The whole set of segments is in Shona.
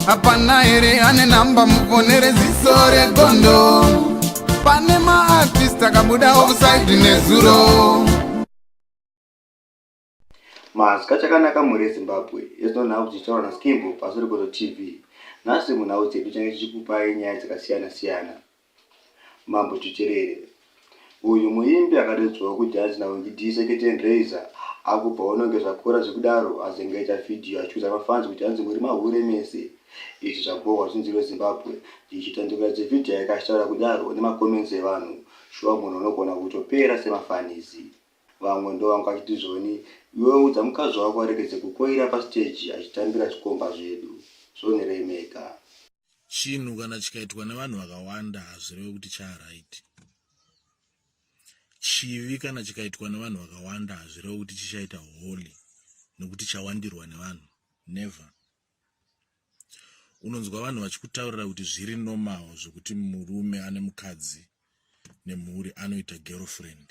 hapana here ane namba mufonere ziso regondo pane maartist akabuda offside nezuro mazwi chakanaka mhuri yezimbabwe yezuno nhau dzichitaura naskimbo pasuri gozo tv nhasi munhau dzedu change chichikupai nyaya dzakasiyana siyana Mambo Chicherere. Uyu muimbi akadedzwawo kujudge na Winky Dee Seketen Razor akubva ononge zvakora zvekudaro azengeja video achiudza mafans kuti hanzi muri mahure mese. Izvi zvabhohwa zvinzi iwe Zimbabwe ichitandukira dzivideo yake achitaura kudaro nema comments evanhu shuwa munhu unogona kutopera sema fans. Vamwe ndovanga vachiti Zoni iwewe udza mukadzi wako aregedze kukoira pa stage achitambira zvikomba zvedu. Zoni remeka. chinhu kana chikaitwa nevanhu vakawanda hazvireve kuti charaiti chivi kana chikaitwa nevanhu vakawanda hazvireve kuti chichaita holy nekuti chawandirwa nevanhu never unonzwa vanhu vachikutaurira kuti zviri normal zvekuti murume ane mukadzi nemhuri anoita girlfriend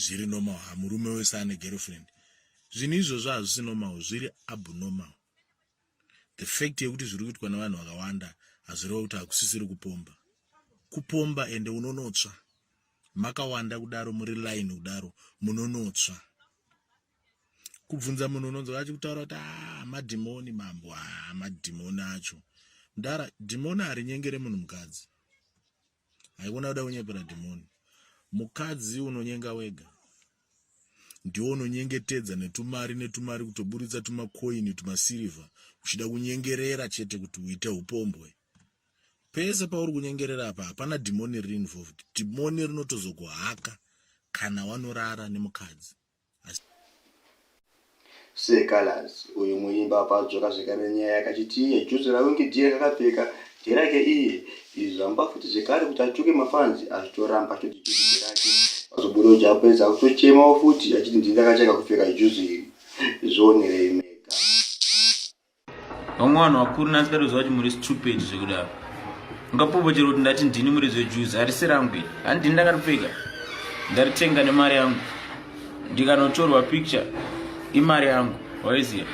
zviri normal ha murume wese ane girlfriend zvinhu izvozvo hazvisi normal zviri abnormal the fact yekuti zviri kuitwa nevanhu vakawanda hazvireva kuti hakusisiri kupomba kupomba ende unonotsva makawanda kudaro muri line kudaro munonotsva kubvunza munhu unonzwa achi kutaura kuti ah, madhimoni mambo ah, madhimoni acho mdara dhimoni harinyengere munhu mukadzi haikona kuda kunyepera dhimoni mukadzi unonyenga wega ndiwo unonyengetedza netumari netumari kutoburitsa tumakoini tumasirivha uchida kunyengerera chete kuti uite upombwe pese pauri kunyengerera apa hapana dhimoni riri involved dhimoni rinotozokuhaka kana wanorara nemukadzi Sir Calaz uyu muimba apa adzoka zvekare nenyaya yake achiti iye juzi raunge dear kakapfeka nderake iye izvi zvamupa futi zvekare kuti atuke mafans achitoramba achitoti juzi nderake pazobuda uja apedza akutochemawo futi achiti ndini ndakatanga kupfeka juzi iri zvionerei mega vamwe vanhu vakuru nasi katoziva kuti muri stupid zvekudaro ungapopo chero kuti ndati ndini muri zvejuzi harisi rangu iri handini ndakaripfeka ndaritenga nemari yangu ndikanotorwa picture imari yangu waiziva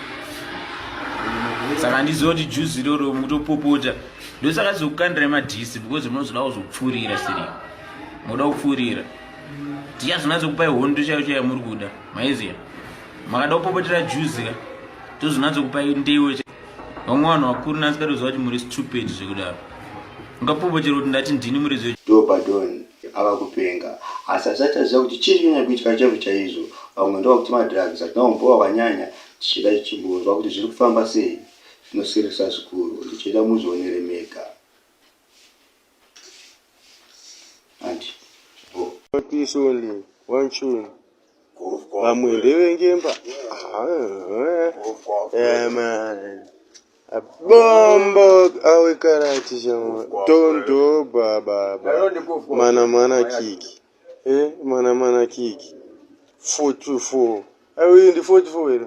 saka handiziva kuti juzi iroro mutopopota ndosaka zokukandira madhisi because munozoda kuzopfuurira siri moda kupfuurira tichazonatsokupai hondo chaiyo chaiyo muri kuda maiziva makada kupopotera juzi ka tozonatso kupa ndeiwe vamwe vanhu vakuru nasi katoziva kuti muri stupid zvekudaro ungapopochera kuti ndati ndini muri zve dobadon ava kupenga asi asati aziva kuti chii chinyanya kuitika chaizvo chaizvo vamwe ndova kuti madrugs atinaombowa vanyanya tichida chichimbonzwa kuti zviri kufamba sei zvinosirisa zvikuru ndichida muzvionere mega anti bo oh. vamwe ndevengemba bombo awekarati chama tondo baba mana mana kiki eh, mana mana kiki 44 ayi ndi 44 here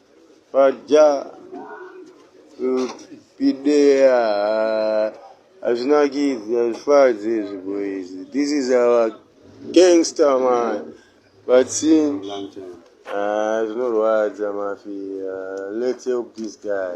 Paja pidea hazvinakidzi hazvifadzi izvi boys. This is our gangster man. But sin ah, zvinorwadza mafia. Let's help this guy.